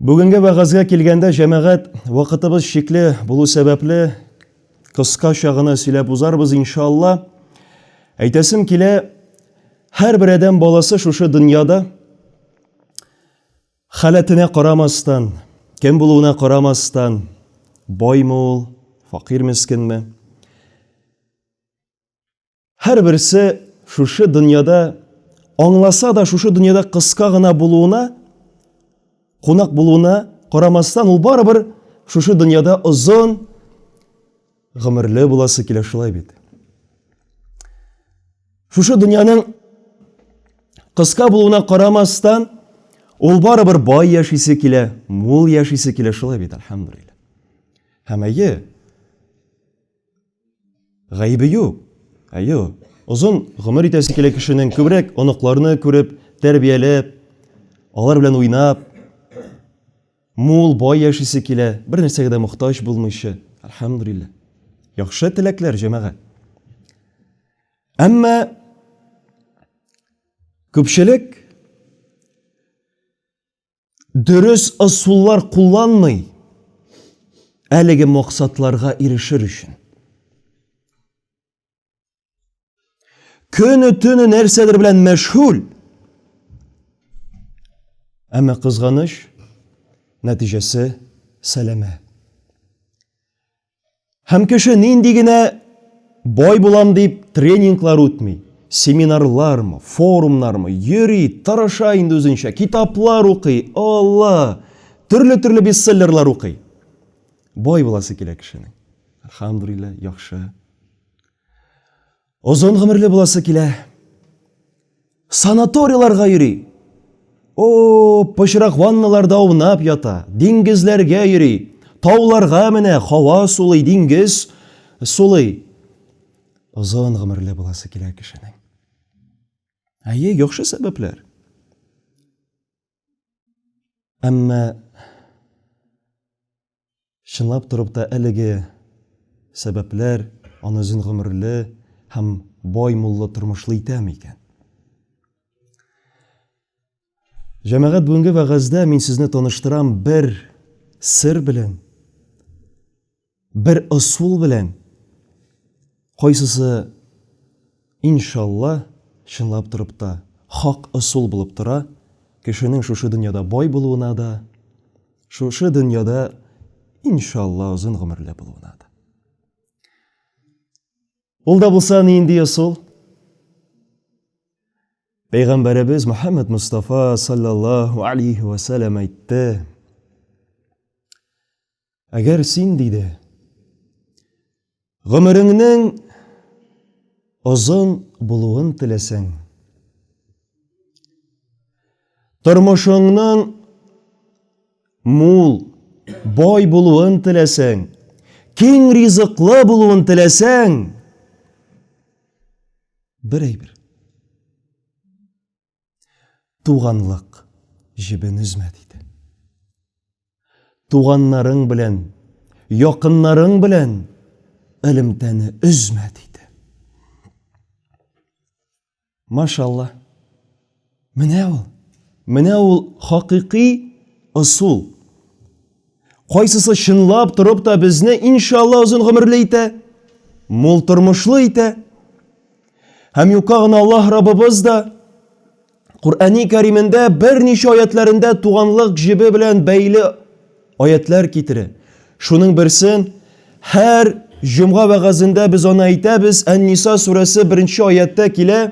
Бүгенге вәгазгә килгәндә җәмәгать вакытыбыз шикле булу сәбәпле кыска чагына сөйләп узарбыз иншалла. Әйтәсем килә, һәр бер адәм баласы шушы дөньяда Халәтенә карамастан, кем булуына карамастан, Баймы ул, факир-мескенме, һәрберсе шушы дөньяда, аңласа да, шушы дөньяда кыска гына булуына, кунак булуына карамастан, ул барыбер шушы дөньяда озын, Гомерле буласы килә шулай бит. Шушы дөньяның кыска булуына карамастан, ул барыбер бай яшисе килә, мул яшисе килә шулай бит, альхамдулилла. Һәм әйе, гаебе юк. Әйе, озын гомер итәсе килә кешенең, күбрәк оныкларны күреп, тәрбияләп, алар белән уйнап. Мул, бай яшисе килә, бер нәрсәгә дә мохтаҗ булмыйча. Әлхәмдүлилләһ. Яхшы теләкләр, җәмәгать. Әмма күпчелек дөрес ысуллар кулланмый әлеге максатларга ирешер өчен. Көне төне нәрсәдер белән мәшгуль. Әмма кызганыч, нәтиҗәсе сәләмә. Һәм кеше нинди генә бай булам дип тренинглар үтми, семинарлармы, форумнармы, йөри, тырыша инде үзенчә, китаплар укый, Алла, төрле-төрле бестселлерлар укый. Бай буласы килә кешенең. Алхамдулилла, яхшы, Озын гомерле буласы килә. Санаторияларга йөри. О, пычрак ванналарда аунап ята, диңгезләргә йөри, тауларга менә, хава сулый, диңгез сулый. Озын гомерле буласы килә кешенең. Әйе, яхшы сәбәпләр. Әмма чынлап торып та әлеге сәбәпләр аны озын гомерле һәм бай муллы тормышлы итәме икән? Җәмәгать бүгенге вәгазьдә мин сезне таныштырам бер сер белән. Бер ысул белән кайсысы иншалла чынлап торып та хак ысул булып тора, кешенең шушы дөньяда бай булуына да, шушы дөньяда иншалла озын гомерле булуына да. Ул да булса нинди ысул? Пәйгамбәребез Мөхәммәд Мустафа саллаллаһу алейхи ва сәлләм әйтте. Әгәр син, диде, гомереңнең озын булуын теләсәң, тормышыңның мул, бай булуын теләсәң, киң ризыклы булуын теләсәң, бер әйбер. Туганлык җебен өзмә диде. Туганнарың белән, якыннарың белән элемтәне өзмә диде. Машалла. Менә ул. Менә ул хакыйкый ысул. Кайсысы чынлап торып та безне, иншалла, озын гомерле итә, мул тормышлы итә? Һәм юкка гына Аллаһ Раббыбыз да Коръәни Кәримендә берничә аятләрендә туганлык җебе белән бәйле аятлар китерә. Шуның берсен һәр җомга вәгазендә без аны әйтәбез, Ән-Ниса сүрәсе 1 нче аятта килә,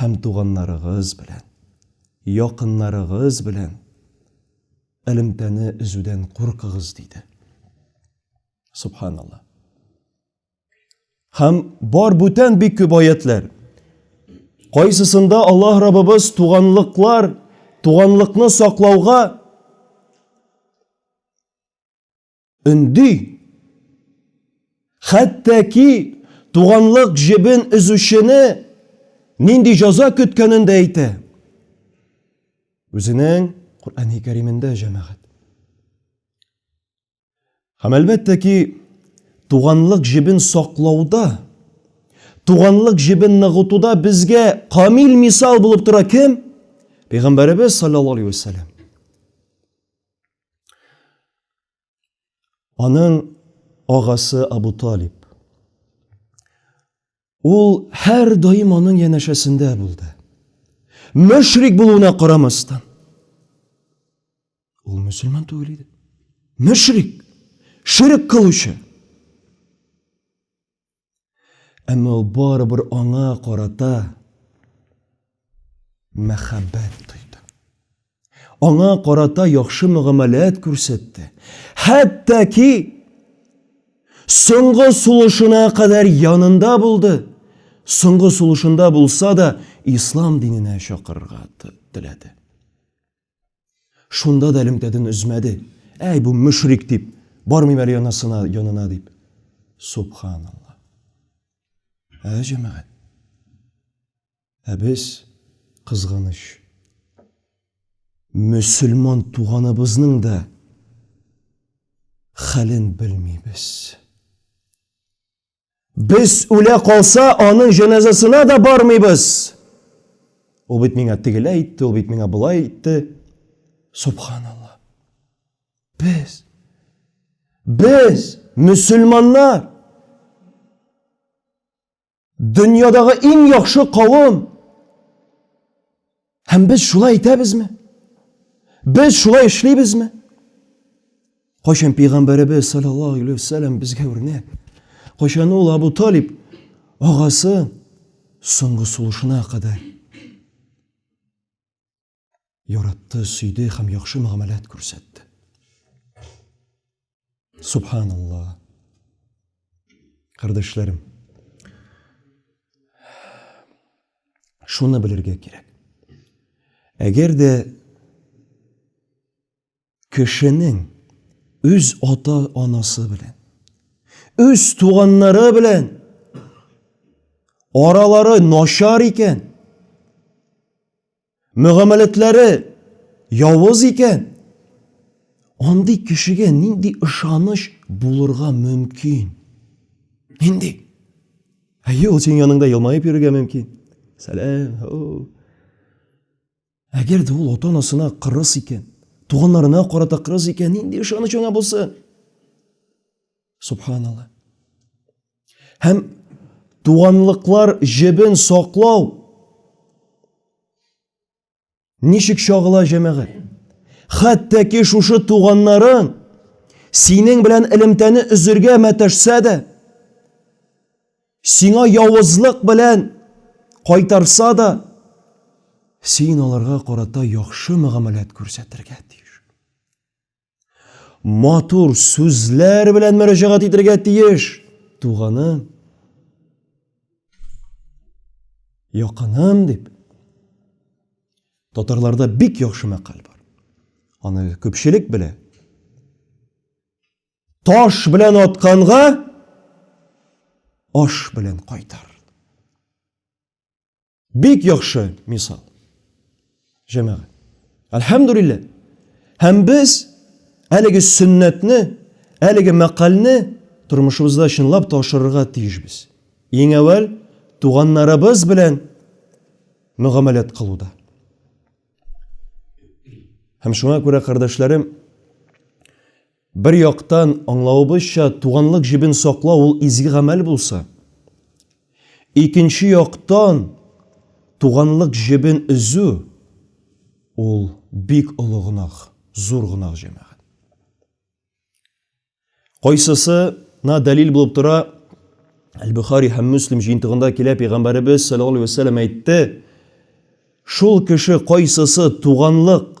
һәм туганнарыгыз белән, якыннарыгыз белән элемтәне өзүдән куркыгыз, диде. Субханалла. Һәм бар бүтән бик күп аятлар. Кайсысында Аллаһ Раббыбыз туганлыклар, туганлыкны саклауга Өнди. Хәтта ки туганлык җебен өзүчене нинди җаза көткәнен дә әйтә. Үзенең Коръәни Кәримендә җәмәгать. Һәм әлбәттә ки, туганлык җебен саклауда, туганлык җебен ныгытуда безгә камил мисал булып тора кем? Пәйгамбәребез саллаллаһу алейһи ва саллям. Аның агасы Абу Талиб. Ул һәр даим аның янәшәсендә булды. Мөшрик булуына карамастан. Ул мөселман түгел иде. Мөшрик, ширк кылучы. Әмма ул барыбер аңа карата мәхәббәт тойды. Аңа карата яхшы мөгамәләт күрсәтте. Хәтта ки соңгы сулышына кадәр янында булды. Соңгы сулышында булса да, ислам диненә чакырырга теләде. Шунда да элемтәден өзмәде. Әй, бу мөшрик дип, бармыйм әле янасына, янына дип. Субханалла. Ә җәмәгать. Ә без кызганыч. Мөселман туганыбызның да хәлен белмибез. Без үлә калса, аның җеназасына да бармыйбыз. Ул бит миңа тегелә итте, ул бит миңа болай итте. Субханалла. Без без мусульманнар дөньядагы иң яхшы кавым Һәм без шулай итәбезме? Без шулай эшлибезме? Кайчан пәйгамбәребез саллаллаһу алейхи вәсәлләм безгә үрнәк? Кайчан ул Абу Талиб агасы соңгы сулышына кадәр яратты, сөйде һәм яхшы мөгамәләт күрсәтте. Субханалла. Кардәшләрем. Шуны белергә кирәк. Әгәр дә кешенең үз ата анасы белән үз туганнары белән аралары начар икән мөгамәләтләре явыз икән, андый кешегә нинди ышаныч булырга мөмкин? Нинди? Әйе, ул синең яныңда елмаеп йөрергә мөмкин. Сәлам. Әгәр дә ул ата-анасына кырыс икән, туганнарына карата кырыс икән, нинди ышаныч аңа булсын? Субханалла. Һәм туганлыклар җебен саклау ничек чагыла җәмәгать? Хәтта ки шушы туганнарың синең белән элемтәне өзергә мәтәшсә дә, сиңа явызлык белән кайтарса да, син аларга карата яхшы мөгамәләт күрсәтергә тиеш. Матур сүзләр белән мөрәҗәгать итергә тиеш. Туганым, якыным дип. Татарларда бик яхшы мәкаль бар. Аны күпчелек белә. Таш белән атканга аш белән кайтар. Бик яхшы мисал. Җәмәгать. Әлхәмдулилла. Һәм без әлеге сөннәтне, әлеге мәкальне тормышыбызда чынлап та ашырырга тиешбез. Иң әүвәл туганнарыбыз белән мөгамәләт кылуда. Һәм шуңа күрә, кардәшләрем, Бер яктан, аңлавыбызча, туганлык җебен саклау ул изге гамәл булса, икенче яктан, туганлык җебен өзү ул бик олы гөнаһ, зур гөнаһ, җәмәгать. Кайсысына дәлил булып тора? Әл-Бөхари һәм Мөслим җыентыгында килә, Пәйгамбәребез саллаллаһу алейһи ва сәлләм әйтте, Шул кеше кайсысы туганлык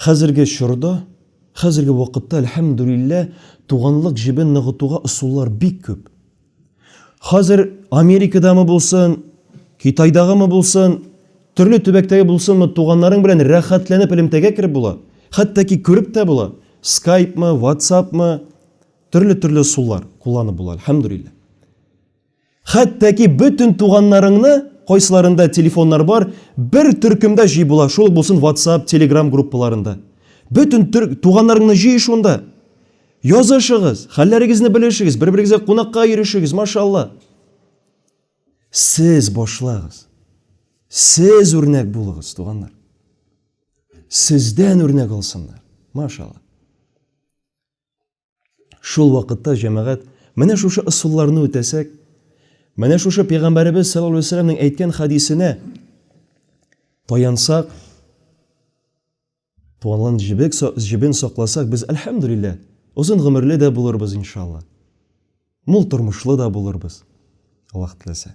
Хәзерге чорда, хәзерге вакытта, әлхәмдүлилләһ, туганлык җебен ныгытуга ысуллар бик күп. Хәзер Америкадамы булсын, Китайдагымы булсын, төрле төбәктәге булсынмы, туганнарың белән рәхәтләнеп элемтәгә кереп була, хәтта ки күреп тә була, скайпмы, ватсапмы, төрле-төрле ысуллар кулланып була, әлхәмдүлилләһ. Хәтта ки бөтен туганнарыңны, кайсыларында телефоннар бар, бер төркемдә җый була, шул ук булсын ватсап, телеграм группаларында. Бөтен төр... туганнарыңны җый шунда. Язышыгыз, хәлләрегезне белешегез, бер-берегезгә кунакка йөрешегез, машалла. Сез башлагыз. Сез үрнәк булыгыз, туганнар. Сездән үрнәк алсыннар. Машалла. Шул вакытта җәмәгать, менә шушы ысулларны үтәсәк, менә шушы пәйгамбәребез саллаллаһу алейһи вәсәлләмнең әйткән хадисенә таянсак, туганлан җебек җебен сакласак, без альхамдулиллаһ, озын гомерле дә булырбыз иншалла. Мул тормышлы да булырбыз. Аллаһ теләсә.